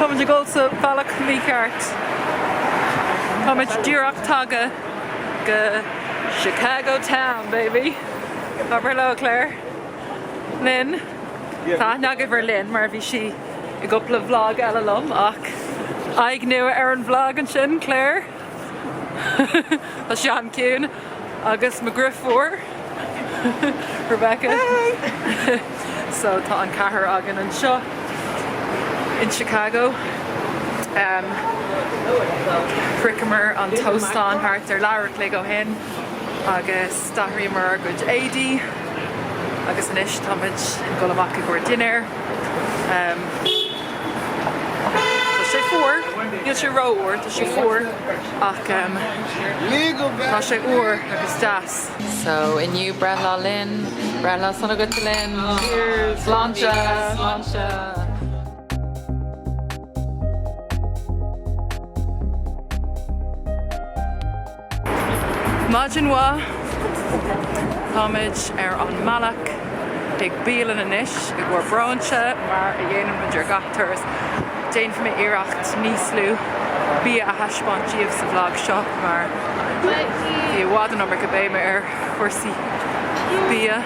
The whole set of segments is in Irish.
Táimid ag dul sa bhealach mícheart. Táimid díreach tagtha go Chicago town, baby! Abair hello, Claire. Lynn. Tá aithne agaibh ar Lynn mar bhí sí i gcúpla vlog eile liom ach aghaidh nua ar an vlog ansin, Claire. Tá sí as Ceatharlach agus mo dheirfiúr mhór, Rebecca, so tá an ceathrar againn anseo in Chicago. Shroicheamar an t-óstán thart ar leathuair an chloig ó shin agus. D'athraíomar ár gcuid éadaí agus anois táimid ag dul amach i gcomhair dinnéir. Tá sé fuar, níl sé ró fhuar, tá sé fuar ach tá sé úr agus deas. So inniu breithlá Lynn, breithlá sona duit Lynn. Cheers! Sláinte! Sláinte! Maidin mhaith! Táimid ar an mbealach chuig bialann anois i gcomhair bróinse mar a dhéanann muid ar gach turas. Déanfaidh mé iarracht níos lú bia a thaispeáint daoibh sa vlog seo mar bhí i bhfad an iomarca béime ar chúrsaí bia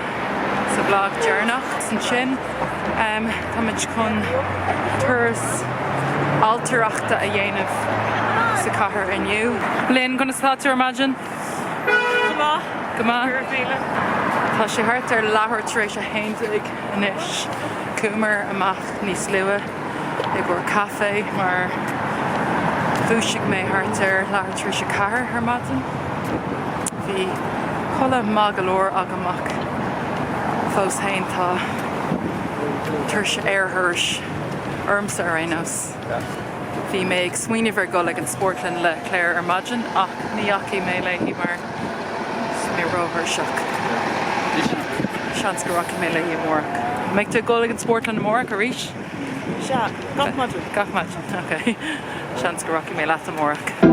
sa vlog deireanach. Ansin. Táimid chun turas ailtireachta a dhéanamh sa cathair inniu. Lynn, conas atá tú ar maidin? Go maith. Go maith. Ar a chéile. Tá sé thart ar leathuair tar éis a haon déag anois. Chuamar amach níos luaithe. i gcomhair caife mar dhúisigh mé thart ar leathuair tar éis a ceathair ar maidin. Bhí codladh maith go leor agam ach fós féin tá tuirse aerthurais ormsa ar aon nós. Bhí mé ag smaoineamh ar dhul chuig an spórtlann le Claire ar maidin ach ní dheachaigh mé léi mar, Bhí mé ró-thuirseach. Seans go rachaidh mé léi amárach. An mbeidh tú ag dul chuig an spórtlann amárach arís? Sea, gach maidin. Gach maidin, ok. Seans go rachaidh mé leat amárach.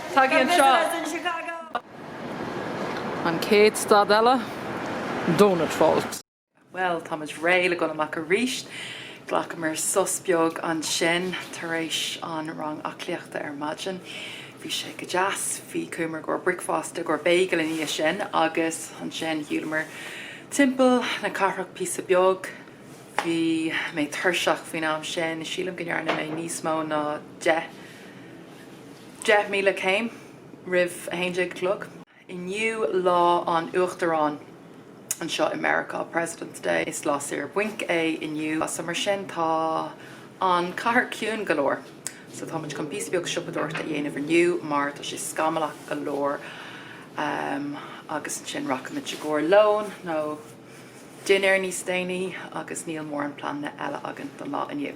Tagaigí anseo! An chéad stad eile, Donut Vault. Bhuel, tá muid réidh le dul amach arís. Ghlacamar sos beag ansin tar éis an rang aclaíochta ar maidin. Bhí sé go deas. Bhí, chuamar i gcomhair bricfeasta, i gcomhair bagel ina dhiaidh sin agus ansin shiúlamar timpeall na cathrach píosa beag. Bhí mé tuirseach faoin am sin, sílim go ndearna mé níos mó ná deich. Deich míle céim roimh a haon déag a chlog. Inniu Lá an Uachtaráin anseo i Meiriceá, President's Day. Is lá saor bainc é inniu so mar sin tá an cathair ciúin go leor. So tá muid chun píosa beag siopadóireachta a dhéanamh inniu mar tá sé scamallach go leor agus ansin rachaimid i gcomhair lón nó. dinnéar níos déanaí agus níl mórán pleananna eile againn don lá inniu.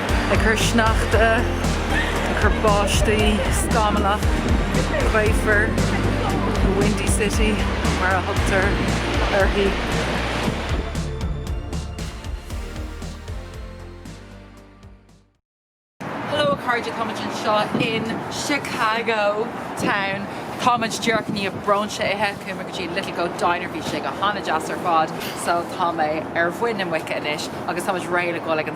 ag cur sneachta, ag cur báistí, scamallach, gaofar, the windy city mar a thugtar uirthi. Hello a chairde, táimid anseo in Chicago town, táimid díreach i ndiaidh bróinse ithe, chuamar go dtí Little Goat Diner, bhí sé go han-deas ar fad, so tá mé ar mhuin na muice anois agus táimid réidh le dhul ag an.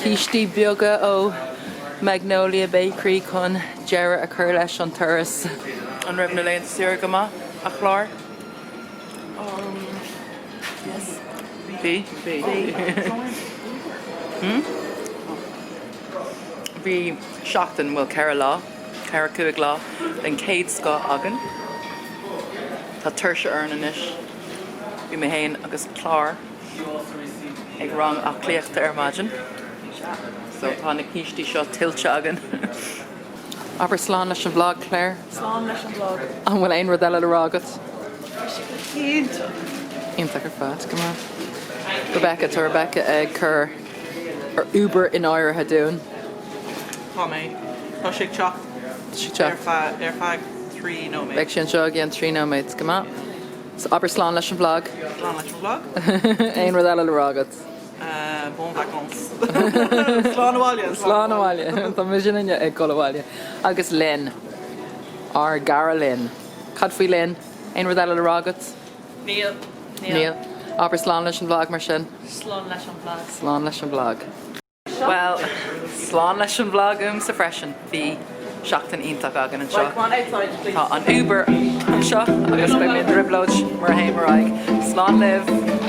Cístí beaga ó Magnolia Bakery chun deireadh a chur leis an turas. An raibh na laethanta saoire go maith, a Chláir? Um, yes. Bhí? Bhí. Hmm? Bhí seachtain bhfuil ceithre lá, ceithre cúig lá den chéad scoth againn. Tá tuirse orainn anois. Bhí mé féin agus Clár ag rang aclaíochta ar maidin. So tá na cístí seo tuillte againn. Abair slán leis an bhlag, a Chláir. Slán leis an bhlag. An bhfuil aon rud eile le rá agat? Tá sé go hiontach. Iontach ar fad, go maith. Rebecca, tá Rebecca ag cur an Uber in áirithe dúinn. Tá mé. Tá sé ag teacht ar feadh trí nóiméad. Beidh sé anseo i gceann trí nóiméad, go maith. So abair slán leis an bhlag. Slán leis an bhlag. Aon rud eile le rá agat? Uh, bon vacances. slán abhaile. Slán abhaile. Tá muidinne ag gabháil abhaile. Agus Lynn. Ár gcara Lynn. Cad faoi Lynn? Aon rud eile le rá agat? Níl. Níl. Abair slán leis an bhlag mar sin. Slán leis an bhlag. Slán leis an bhlag. Bhuel, slán leis an bhlag uaimse freisin. Bhí seachtain iontach againn anseo. Tá an Uber anseo agus beidh mé i dtrioblóid mura dtéim ar aghaidh. Slán libh!